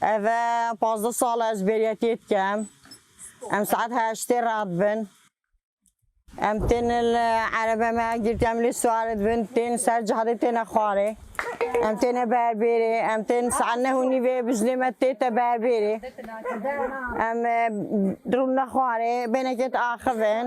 Ev e pazdeh sal e ez bêriyetiyê dikim. Em saet heştê re dibin. Em tên li erebe me girtiya em lê siwar dibin tên ser cadê têne xwarê. Em têne berbêrê em tên saet neh û nîvê bizilê me tê te berbêrê. Em rûn ne xwarê bênekê te axivin.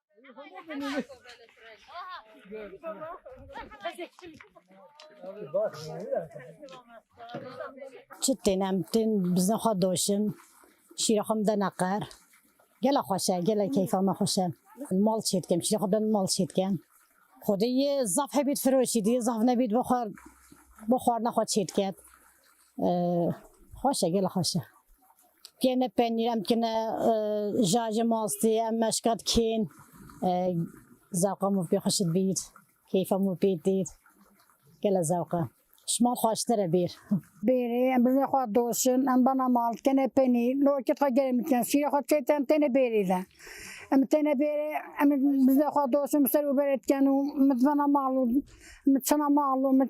Çi tên em tên bizin xwe doşim. Şîra xwe min de neqer. Gela xweş e, gela keyfa me xweş e. Mal çê dikim, şîra xwe ben mal çê dikim. Xwedê yê zaf hebît firoşî dî, zaf nebît bixwar bixwarina xwe çê diket. Xweş e gelê xweş e. Kêne penîr em dikine jajê mastî em meşka dikên zewqa min pê xweş dibîr keyfa min pê dît gelê zewq e. Şimal xweştir e bêr. Bêrê em bi vê xwe doşin em bana mal dikine penîr li okît xwe gelê min dikine şîrê xwe çête em têne bêrê de. Em têne bêrê em bi vê xwe doşin ser û berê dikin û min bana mal û min çina mal û min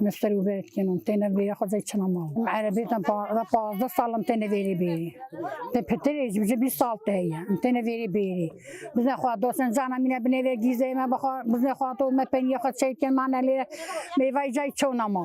Me ser û ver dikin û têne vêrê xwezê çima ma. Em erebê te da pazdeh sal em têne vêrê bêrê. Te pitirê ji bijî bîst sal te heye em têne vêrê bêrê. Biznê xwe dosen cana mîne binê vê gîzê me bixwe biznê xwe to me peniyê xwe çêy dikin ma ne lê mêvayê cayê çewna ma.